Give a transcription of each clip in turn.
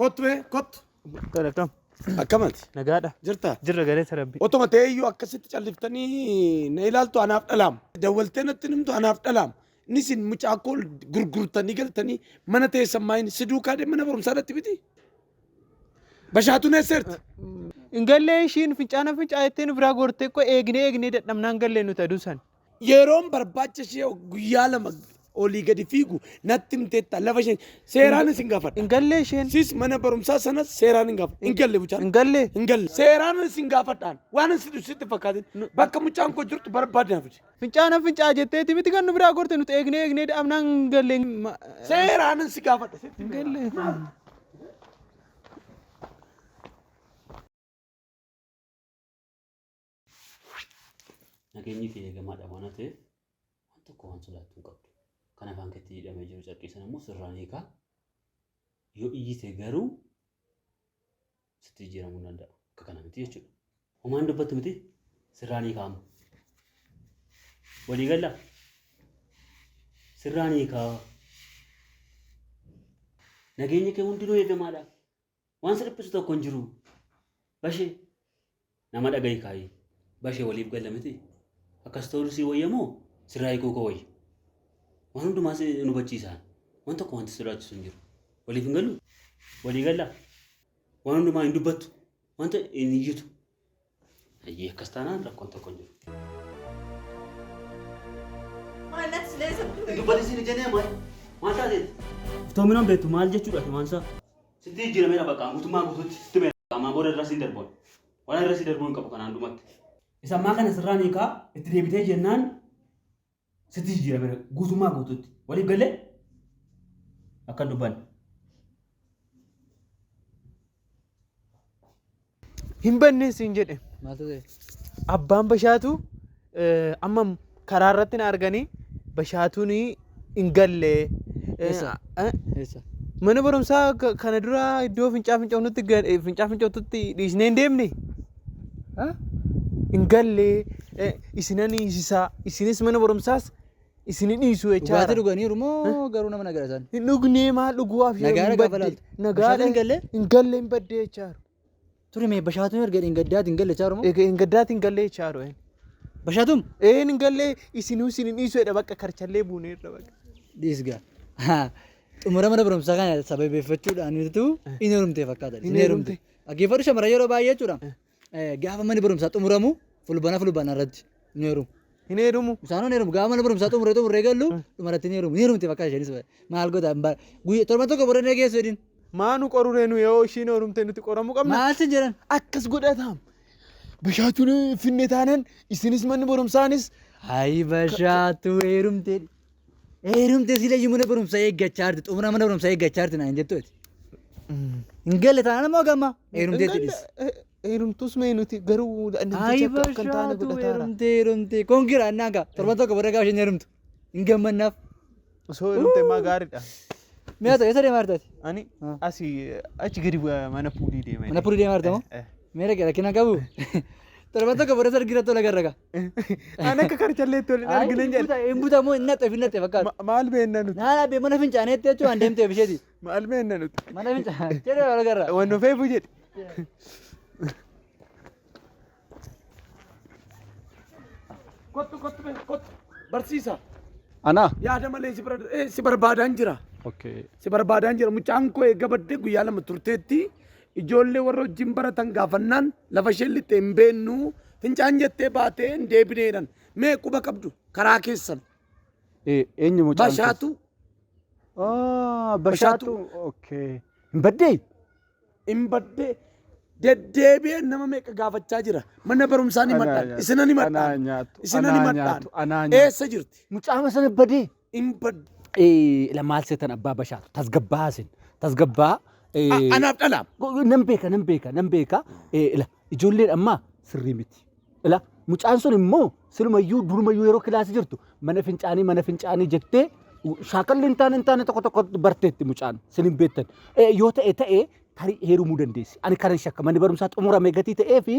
Kottu mee kottu. Dhala kam? Akkamati Nagaadha. jirta? Jirra gareessa rabbi. Otuma ta'ee iyyuu akkasitti calliftanii na ilaaltu anaaf dhalaam. Dawwaltee natti nimtu anaaf dhalaam. Inni isin mucaa koo gurgurtanii galtanii mana teessan maayin si duukaa deemee mana barumsaa irratti biti. Bashaatuun eesseerti. Hin gallee ishiin fincaana fincaa jettee nu biraa gortee koo eegnee eegnee dadhabnaan gallee nuti aduu san. Yeroon barbaacha ishee guyyaa lama olii gadi fiigu natti himteetta lafa isheen seeraan isin gaafadha. Hin gallee isheen. Sis mana barumsaa sanas seeraan hin gaafadha. Hin galle mucaan. Hin galle. Hin galle. Seeraan isin gaafadhaan waan isin ibsitti fakkaatin bakka mucaan koo jirtu barbaadne hafuti. Fincaana fincaa jetteeti miti kan nu biraa gorte nuti eegnee eegnee dhabnaan hin galle. Seeraan isin gaafadha. Hin galle. Nageenyi kee eegamaadha waan ta'eef waan tokko waan sodaattu hin qabdu. Kan afaan keetti hidhamee jiru carqii sana immoo sirraan hiikaa. Yoo iyyite garuu sitti jijjiiramuu hin danda'a. Akka kana miti jechuudha. Homaa hin dubbattu miti sirraan hiikaa amma. Walii galla sirraan hiikaa. Nageenyi kee hundinuu eegamaadha. Waan sirphisu tokko hin jiru. Bashe nama dhagahi kaayi. Bashe waliif galla miti. Akkas ta'uu sii wayya moo sirraa hiikuu koo wayya. Waan hundumaas hin hubachiisaan. Waan tokko wanti sodaachisu hin jiru. Waliif hin gallu? Walii galla. Waan hundumaa hin dubbattu. Wanta hin iyyitu. Hayyee akkas taanaan rakkoon tokko hin jiru. Dubbadhi siin ijanee maal? Maal taateeti? Iftoominaan beektu maal jechuudha himaan isaa? Sitti jijjiirameera bakka guutummaa guutuutti sitti meera. Ammaa booda irra siin darboon. Waan irra si darbuu hin qabu kanaan dhumatti. Isa ammaa kana sirraa ni kaa itti deebitee jennaan sitti jijjiirame guutummaa guutuutti waliif gallee akka hin dubbanne. Hin banneen siin jedhe. Maaltu ta'e? Abbaan bashaatu eh, amma karaa irratti na arganii bashaatuun hin galle. Eh, Eessa? eh, Eessa? Mana barumsaa ka- kana dura iddoo fincaa fincaa'utti fincaa fincaa'utti dhiisnee hin deemne. hin gallee isina niisisaa isinis mana barumsaas isini dhiisu Dhugaatii jechaadha. dhuganiiru moo garuu nama nagara isaan? Hin dhugnee maal dhuguwaaf yoo Nagaara hin gaafa badde laaltu. Bashaatu nagaadha hin galle? hin galle hin badde jechaadha. Ture mee bashaatuun erga hin gaddaati hin galle chaaru moo? Egaa hin gaddaati hin galle jechaadha. een. Bashaatuun? Een hin galle isinuu isin hin dhiisu jedha bakka karchallee buuneerra bakka. Dhiisga. Xumura mana barumsaa kana sababeeffachuudhaan utuu hin heerumte fakkaata. Hin heerumte. Dhaggeeffadhu shamarran yeroo baay'ee jechuudha. Gaafa manni barumsaa xumuramu fulbana fulbana irratti ni heerumu. Hin heerumu. Isaanoo ni heerumu. Gaafa mana barumsaa xumuree xumuree gallu dhumarratti ni heerumu. Ni heerumti bakka isheenis maal goota guyya torban tokko booda ni geessu jedhin. Maa nu qoruree nu yoo ishiin heerumtee nuti qoramuu qabna. Maal sin jedhan? Akkas godhataam. Bashaachuun finne taanan isinis manni barumsaanis. Hayi bashaatu heerumtee. Heerumte silayyu mana barumsa eeggachaa jirti. Xumura mana barumsa eeggachaa jirti naan jettu ati. Hin galle taanaan ammoo gamma. Heerumtee tidhis. Heerumtuus mee nuti garuu Ayi namtichi akka akka hin taane bashaatu godhataara. heerumtee heerumtee. Kun gira annaan gaa. Torban tokko booda gaafa isheen heerumtu. Hin gammannaaf. Osoo heerumte maa gaariidha. Mi'a ta'e isa deemaa jirtaati. Ani Ah. asii achi gadi bu'aa mana puulii deema. Mana puulii deemaa jirta moo? Eh, eh. Mee dhaqee rakkina qabu. Torban tokko booda sargiirratti ol agarra gaa. An akka karchalleetti waliin argine jedhe. Hin buta moo hin naxxeef hin naxxeef akkaas. Ma- Maal beenna nuti? Naa dhaabee mana fincaaneetti jechuun an deemteef isheeti. Maal beenna nuti? Mana fincaan jedhee wal garra. Waan nu feefu jedhe. Kottu kottu bee, kottu. Barsiisa. Anaa. Yaada malee si bara- eh, si barbaadaan jira. Okay. Si barbaadaan jira. Mucaan koo eegga baddee guyyaa lama turteetti. Ijoollee warra wajjin baratan gaafannaan lafa isheen lixxe hin beennu fincaan jettee baatee hin deebine jedhan. Mee quba qabdu karaa keessan. Eenyu mucaan keessa? Bashaatu Ah, Bashaatu. Bashaatu. Okay. Hin baddee? hin badde deddeebi'ee nama meeqa gaafachaa jira. Mana barumsaa ni Anaa madhaan. nyaatu, Isinan ni anaa madhaan. nyaatu, Isinan ni anaa madhaan. nyaatu, anaa nyaatu. Eessa jirti? Mucaama sana badee. in bad Eh, ila maal seetan abbaa bashaatu tasgabbaa isin tasgabbaa a- eh, anaaf dhalaam go- go- nan beeka nan beeka nan beeka eh, ila ijoolleen ammaa sirrii miti ila mucaan sun immoo silumayyuu durumayyuu yeroo kilaasii jirtu mana fincaanii mana fincaanii jettee shaakalli hin taane hin taane tokko tokko barteetti mucaan sin hin beektan Eh, yoo ta'e ta'e tarii heerumuu dandeessi. Ani kanan shakka manni barumsaa xumurame gatii ta'ee fi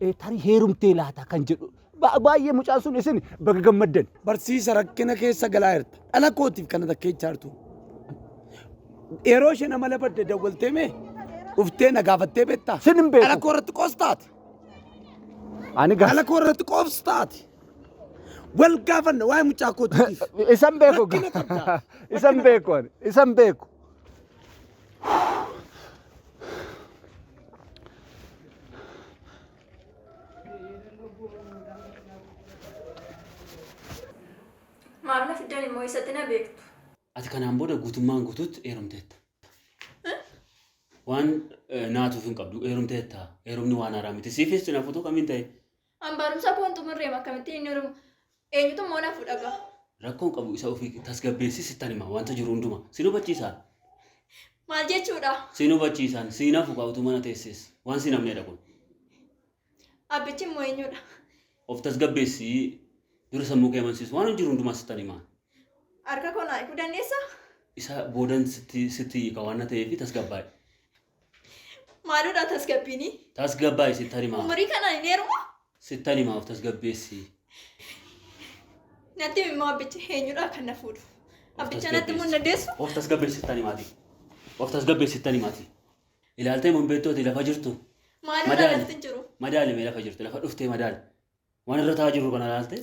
eh, tarii heerumtee laata kan jedhu. Ba- Baay'ee mucaan sun isin baga gammaddan. Barsiisa rakkina keessa galaa jirta. Dhala kootiif kana takkeechaa jirtu. Yeroo isheen amala badde dawwaltee mee dhuftee na gaafattee beektaa? Sin hin beeku. Dhala koo irratti qoostaati. Ani gaa- Dhala koo irratti qoobstaati. Wal gaafanna waa'ee mucaa kootiif. isan beeku. Rakkina qabda. Isan beeku ani. Isan beeku. Maamila fiddan immoo eessatti na beektu. Ati kanaan booda guutummaan guutuutti heerumteetta. Waan eh, naatuuf hin qabdu heerumteetta. Heerumni waan haaraa miti. Siifis cinaaf utuu kamiin ta'e An barumsa koon xumurreem akkamittiin inni oromoo eenyutu immoo na fuudha gaa. Rakkoon qabu isa ofii tasgabbeessi sittan hima wanta jiru hunduma. Sin hubachiisaan. Maal jechuudha? Sin hubachiisaan siin hafu kaa utuu mana teessees waan siin hafneedha kun. Abbichi immoo eenyudha? Of tasgabbeessi dura sammuu kee amansiisu waan jiru hundumaa sittan hima. Harka koo naa hiikuu dandeessaa? Isa boodan sitti sitti hiika waan na ta'eef tasgabbaa'i. Maaloodhaa tasgabbiini. Tasgabbaa isin tarimaa. Umurii kanaan hin heeruma. Sittan himaa of tasgabbeessi. Natti himimmoo abbicha eenyudhaa kan na fuudhu. Abbicha natti mun dandeessu. Of tasgabbeessi sittan himaati. Of tasgabbeessi sittan himaati. Ilaaltee mun beektooti lafa jirtu. Maaloodhaa lafti hin jiru. Madaali mee lafa jirtu lafa dhuftee madaali. Waan irra taa'aa jirru kana ilaaltee.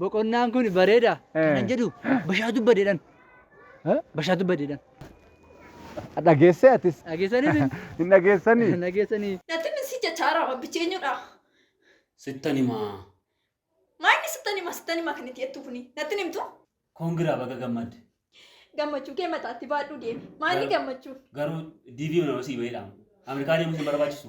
Boqonnaan kun bareeda kanan jedhu bashaa dubbadeedhan. Bashaa dubbadeedhan. Dhageessee atis. Dhageessanii isin? Hin dhageessanii? Hin dhageessanii? Natti misi jachaara abbichi eenyudha? Sittan himaa. Maanni sittan hima sittan hima kan itti jettuu kuni natti himtu? Koongiraa baga gammadde. Gammachuu kee mataatti baadhuu deemi. Maanni gammachuu? Garuu DV nama sii baheedha. Ameerikaa deemuus hin barbaachisu.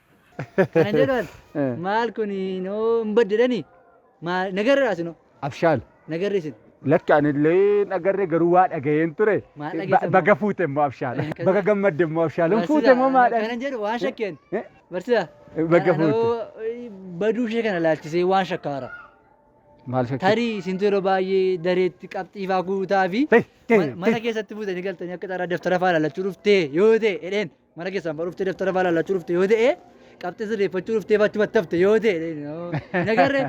Kana jedhan Eh. maal kun noo hin badde jedhani maal nagarraa sinoo Abshaal. nagarri isin. Lakki anillee nagarree garuu waa dhaga'een ture. Maal Ba- dhageessan Baga moo? fuute immoo abshaal. Eh, kaza- Baga gammadde immoo abshaal. Hin fuute immoo maadhaan. Kanan jedhu waan shakkeen. Eh, Barsiisa. Baga fuute. Anoo baduu ishee kana laalchisee waan shakkaara. Maal shakkii? Tarii isintu yeroo baay'ee dareetti qabxiifaa guutaa fi Tee, tee, ma- mana tee. keessatti fuutanii galtanii akka xaraa daftara faa lallachuu dhuftee yoo ta'e jedheen. Mana keessaan fa'aa dhuftee dabtara fa'aa laallachuu dhufte yoo ta'e qabxii sirreeffachuu dhuftee fa'aa achumatti hafte yoo ta'e nagarre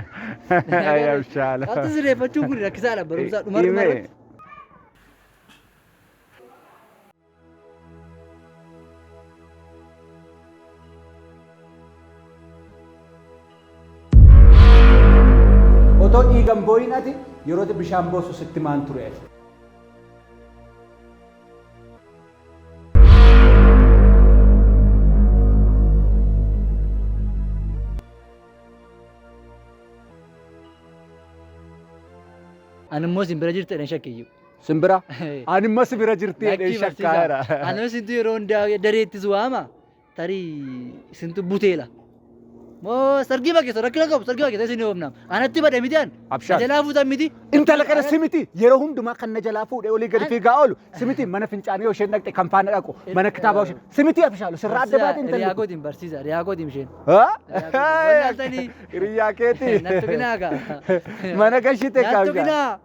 Ayyaabshaala. qabxii sirreeffachuun kun rakkisaadha barumsaa dhuma dhuma Himee. irratti. Otoo dhiigan booyin ati yeroo bishaan boosu sitti maan ture ati. Ani immoo isin bira jirtu jedheen shakkiyyu. Simbira. Ani immoo si bira jirti jedhee shakkaara. Anis itti yeroo hundaa dareettis waama. tarii isintu buteela. Moo sargii bakeessa rakkina qabu sargii bakeessa isin hoofnaam. Anatti bade miti an. Abshaal. Jalaa fuutan miti. Intala kana simiti yeroo hundumaa kan na jalaa fuudhee olii gadi fiigaa oolu simiti mana fincaanii isheen dhaqxe kan faana dhaqu mana kitaabaa isheen simiti abshaalu sirraa adda baate Riyaa intalli. gootiin barsiisa riyaa gootiin isheen. Wallaaltanii. Hiriyaa keetii. Nattu binaa kaa. Mana gashite Nattu kaabshaa. binaa.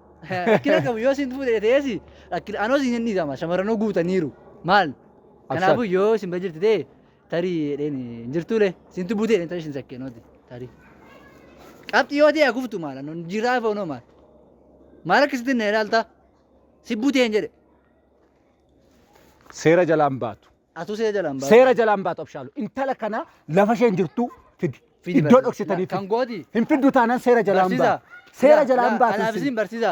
Rakkina qabu yoo isin fuudhe ta'eesi rakkina anoo isin hin dhiisama shamarranuu guutaniiru maal Kanaafuu yoo isin bira jirti ta'e tarii jedheen hin jirtuule isintu buutee jedheen tarii isin sakkee nooti tarii. Qabxii yoo ta'e akuftu maala noon jiraa foonoo maal. Maal akkasitti na ilaalta si buutee hin jedhe Seera jalaan baatu. atuu seera jalaan baatu. Seera jalaan baatu abshaalu. Intala kana lafa isheen jirtu fidi. Fidi Iddoo barsiisa. dhoksitanii Kan fidi. gooti. Hin fiddu taanaan seera jalaan Barsiisa. baatu. Seera Laa- jalaan laa- baatu. Kanaaf isin barsiisa.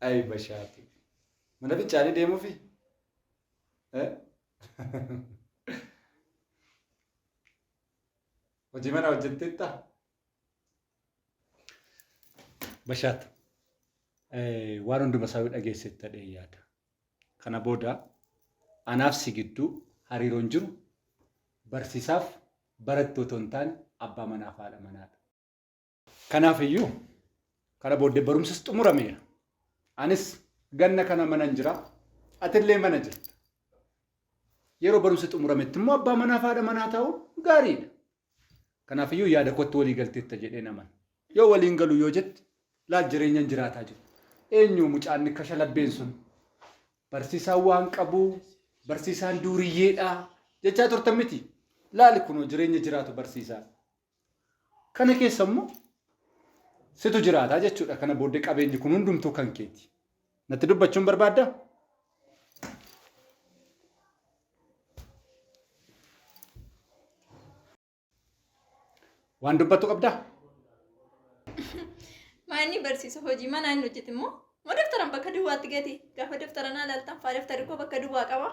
Ay bashaatu. Mana fincaanii deemuufi? Eh? Hojii mana hojjetteetta? Bashaat waan hunduma isaa yoo dhageessetti ta'ee yaada. Kana booda anaaf si gidduu hariiroon jiru barsiisaaf barattoota hin taane abbaa manaaf haadha manaadha. Kanaaf iyyuu kana booddee barumsas xumurameera. Anis ganna kana manan jira, atillee mana jirta. Yeroo barumsi xumurametti immoo abbaa manaa fi haadha manaa ta'uun gaariidha. Kanaaf iyyuu yaada kootti walii galteetta jedhee naman. Yoo waliin galu yoo jette laal jireenyan jiraataa jiru. Eenyu mucaan kasha labbeen sun? Barsiisaan waan qabu, barsiisaan duuriyyeedha jechaa turtan miti. Laali kunoo jireenya jiraatu barsiisaa. Kana keessa immoo situ jiraata jechuudha. Kana booddee qabeenyi kun hundumtuu kan keeti. Natti dubbachuun barbaaddaa? Waan dubbattu qabdaa? Maanni barsiisa hojii manaa hin hojjete immoo moo daftaran bakka duwwaatti gati gaafa daftara naa laaltan faa daftarri koo bakka duwwaa qaba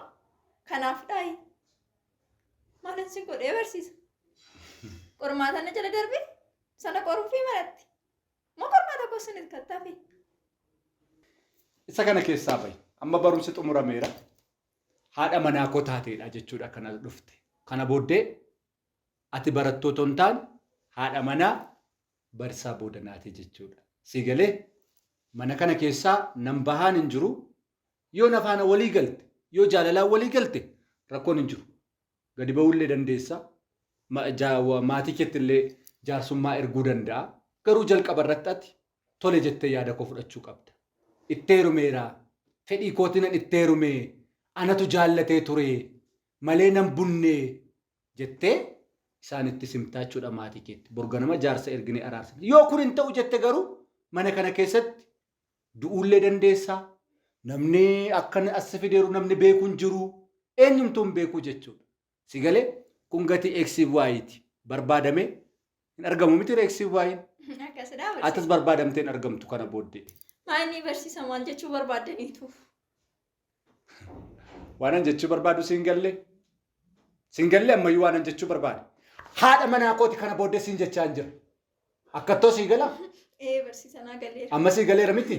kanaaf dhaayi. Maalan si godhee barsiisa. Qormaata na jala darbe sana qoruufii maratti. Moo qormaata koo sinitti kattaafi. Isa kana keessaa bahi. Amma barumsi xumurameera. Haadha manaa koo taateedha jechuudha kana dhufte. Kana booddee ati barattoota hin taane haadha manaa barsaa booda naati jechuudha. Sii galee mana kana keessaa nan bahaan hin jiru Yoo na faana walii galte, yoo jaalalaan walii galte rakkoon hin jiru. Gadi ba'uullee dandeessa. Ma- ja- wa- Maatii keetti illee jaarsummaa erguu danda'a. Garuu jalqaba irratti ati tole jettee yaada koo fudhachuu qabda. Itti heerumeera. Fedhii kootiinan itti heerume. Anatu jaallatee ture. Malee nan bunne jettee isaanitti simtaa jechuudha maatii keetti. Borganama jaarsa erginee araarsa. Yoo kun hin ta'u jette garuu mana kana keessatti Du'uullee dandeessa. Namni akkan as si fideeru namni beeku hin jiru. Eenyumtuu hin beeku jechuudha. Si galee? Kun gatii X fi Y ti. Barbaadamee hin argamu miti X fi Y. Akkasidhaa Atis barsiisa. barbaadamtee hin argamtu kana booddee. Maanii barsiisa maal jechuu barbaaddaniituuf? Waanan jechuu barbaadu siin galle. Siin galle ammayyuu waanan jechuu barbaadu. Haadha manaa kooti kana booddee siin jechaa hin jiru. Akkattoo sii gala. Ee barsiisa naa galeera. Amma sii galeera miti.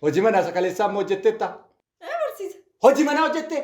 Hojii manaa isa kaleessaa immoo hojjetteetta. Ee barsiisa. Hojii manaa hojjettee.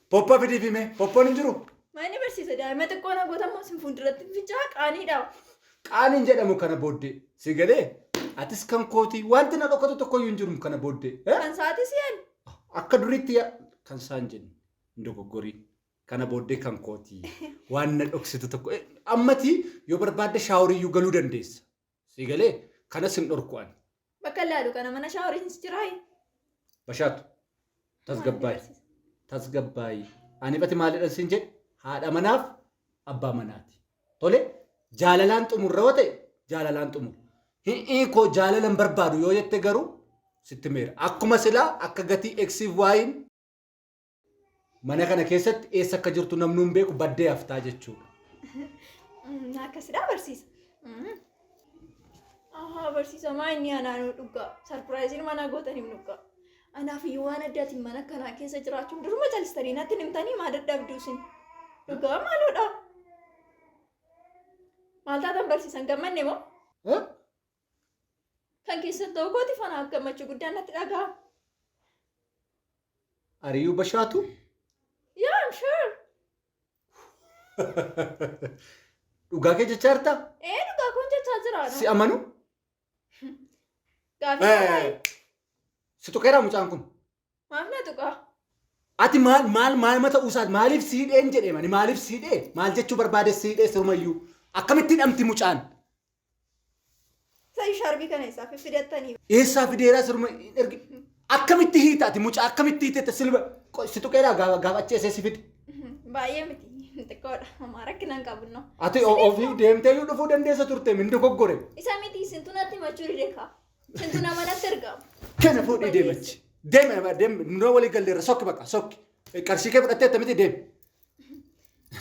Poppa fidiifi mee. Poppoon hin jiru? Maani barsiisa daa'ima xiqqoo na gootammoo sin fuulduratti hin fincaa qaaniidha. Qaaniin jedhamu kana booddee. Si galee? Atis kan kootii wanti na dhokatu tokkoyyuu hin jiru kana booddee. Eh? Kan sa'aatii si'an. Akka duriitti yaa kan isaan jennu hin dogoggorii. Kana booddee kan kootii waan na dhoksitu tokko. Eh, Ammatii yoo barbaadde shaaworiiyyuu galuu dandeessa. Si galee kana sin dhorku ani. Bakka laalu kana mana shaaworiinis jiraa. Bashaatu tasgabbaayi tasgabbaayi ani bati maalidhan sin jedhe haadha manaaf abbaa manaati. Tole jaalalaan xumurra yoo ta'e jaalalaan xumurra. Hi'ii koo jaalalan barbaadu yoo jette garuu sitti meera. Akkuma silaa akka gatii eksiif waayin Mana kana keessatti eessa akka jirtu namni hin beeku baddee haftaa jechuudha. Mm, Akkasidhaa barsiisa. Mm. Ahaa barsiisa maa inni anaa nu dhugaa. Sarpiraayiziin manaa gootanii nu dhugaa. Anaaf iyyuu waan addaatiin mana kanaa keessa jiraachuun duruma calistanii natti hin himtanii maa dadhabduu isin. Dhugaa maaloodha. Maal taatan barsiisan gammanne moo? Eh? Kan keessan ta'uu kooti fanaa gammachuu guddaan natti dhaga'ama. Ari'uu bashaatu? Yeah, I'm sure. Dhugaa kee jechaa jirtaa? Ee dhugaa kun jechaa jira. Si amanu? Gaafii Eh, baay'ee. Si tuqeeraa mucaan kun? Maaf na tuqaa? Ati maal maal maal mata usaat maaliif siidheen jedhee mani maaliif siidhee maal jechuu barbaade siidhee sirumayyuu akkamittiin dhamti mucaan Sa'i shaarbii kana isaa fiffidattanii. Eessaa fideeraa sirma hin ergi. Akkamitti hiita ati mucaa akkamitti hiitetta silba qoy si tuqeeraa gaafa gaafa achi eessee si fide. Baay'ee miti. Xiqqoodha. Homaa rakkina hin qabnu. Ati o- ofii deemtee yoo dhufuu dandeessa turte min dogoggore. Isa miti isintu natti himachuu dide kaa. Isintu nama natti ergamu. Kana fuudhii deemachi. Deeme deeme nurra walii galleerra sokki bakka sokki. Qarshii kee fudhattee attamitti deeme.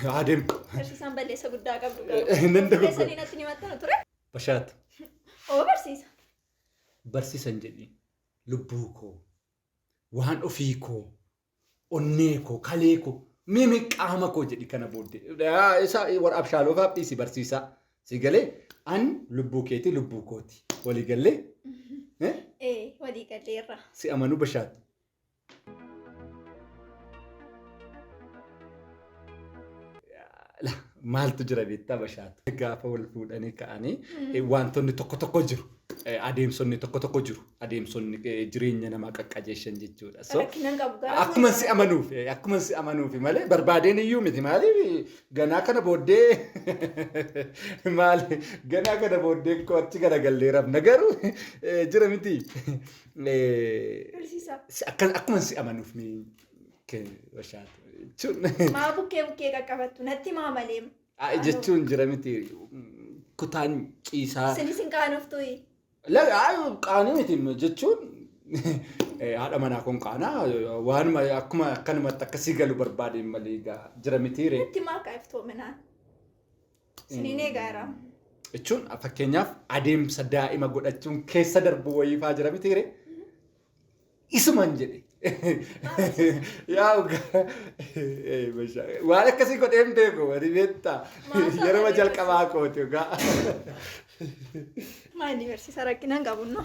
Haa deemu. Barsiisaan balleessa guddaa qabdu Nan garuu. dogogora. Keessanii natti ni maxxanu ture. Bashaat Oo barsiisa. barsiisan jedhi lubbuu koo waan ofii koo onnee koo kalee koo mimi qaama koo jedhi kana booddee Yaa, isa warra abshaaloo faaf dhiisi barsiisaa si galee an lubbuu keeti lubbuu kooti walii gallee eh, Ee walii galleerra. si amanuu bashaat Maaltu jira beektaa bashaatu. Gaafa wal fuudhanii ka'anii eh, wantoonni tokko tokko jiru. Eh, Adeemsonni tokko tokko jiru. Adeemsonni eh, jireenya namaa qaqqajeeshan jechuudha. So, Rakkinan qabu garaa akkuma si amanuuf eh, akkuma si amanuuf malee barbaadeen iyyuu miti maaliif ganaa kana booddee maali ganaa kana booddee koo achi garagallee rafna garuu eh, jira miti Barsiisaa. Akka akkuma si amanuuf ni bashaatu jechuun. Maa bukkee bukkee qaqqabattu natti maa malee. Jechuun jira miti kutaan ciisaa. Sin isin qaanoftu. Qaanii miti jechuun haadha manaa kun qaanaa waanuma akkuma akkanumatti akkasii galu barbaadeen malee jira miti. Natti maa qaayiftoomina. Isiniin eegaa jira. jechuun fakkeenyaaf adeemsa daa'ima godhachuun keessa darbu wayiifaa jira miti hiree. Isuman jedhe. Yaa uga- ee, masha- waan akkasii godhee hin beeku wani beektaa Maasaa yeroo wani jalqabaa kooti ugaa. Maa inni barsiisa rakkinaan qabunno.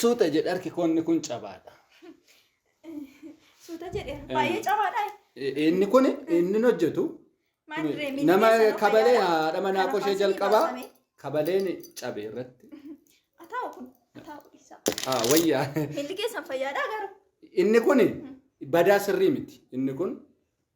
Suuta jedhe harki koonni kun cabaadha. Suuta jedheera. Baay'ee cabaadha. Inni kun inni hojjetu Maal duree miidhagina nama sana kabalee fayyada. haadha manaa Kana koshee faasii jalqabaa baasame. kabaleen cabe irratti. Ataa'u kun ataa'u dhiisaa. Ah, Wayyaa Miilli keessan fayyaadhaa garuu. inni kun badaa sirrii miti. Inni kun